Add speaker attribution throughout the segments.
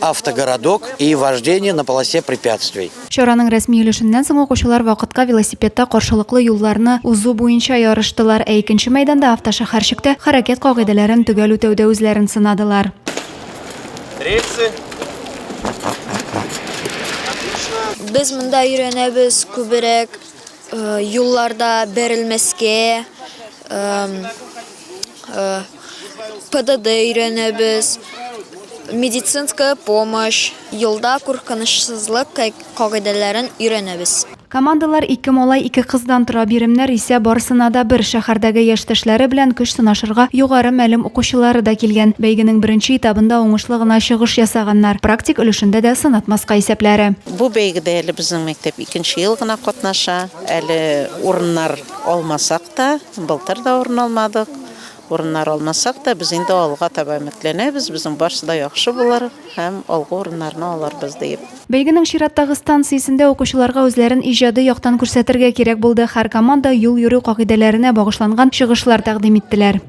Speaker 1: автогородок и вождение на полосе препятствий. Чараның рәсми
Speaker 2: өлешеннән соң укучылар вакытка велосипедта каршылыклы юлларны узу буенча ярыштылар, ә икенче мәйданда автошәһәрчектә хәрәкәт кагыйдәләрен төгәл үтәүдә үзләрен сынадылар.
Speaker 3: Рельсы.
Speaker 4: Без монда өйрәнәбез күберәк. Юлларда бәрелмәскә, ПДД өйрәнәбез, медицинская помощь, юлда куркынычсызлык кагыйдәләрен өйрәнәбез. Командалар ике
Speaker 2: малай, ике кыздан тора, биремнәр исә барысына да бер. Шәһәрдәге яшьтәшләре белән көч сынашырга югары мәлем укучылары да килгән. Бәйгенең беренче этабында уңышлы гына чыгыш ясаганнар. Практик өлешендә дә сынатмаска исәпләре. Бу бәйгедә әле
Speaker 5: безнең мәктәп икенче ел гына катнаша. Әле урыннар алмасак та, былтыр да урын алмадык. Урыннар алмасак та, без инде алга таба өметләнәбез, безнең барсы да яхшы булыр һәм алгы урыннарны алырбыз диеп. Бәйгенең чираттагы
Speaker 2: станциясендә укучыларга үзләрен иҗади яктан күрсәтергә кирәк булды, һәр команда юл йөрү кагыйдәләренә багышланган чыгышлар тәкъдим иттеләр.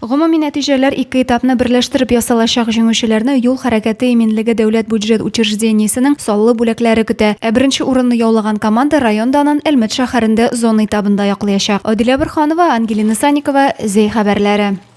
Speaker 6: Гомуми
Speaker 2: нәтиҗәләр ике этапны берләштереп ясалачак, җиңүчеләрне Юл хәрәкәте иминлеге дәүләт бюджет учреждениесенең саллы бүләкләре көтә. Ә беренче урынны яулаган команда район данын Әлмәт шәһәрендә зона этабында яклыячак. Адилә Борһанова, Ангелина Санникова, Зәй хәбәрләре.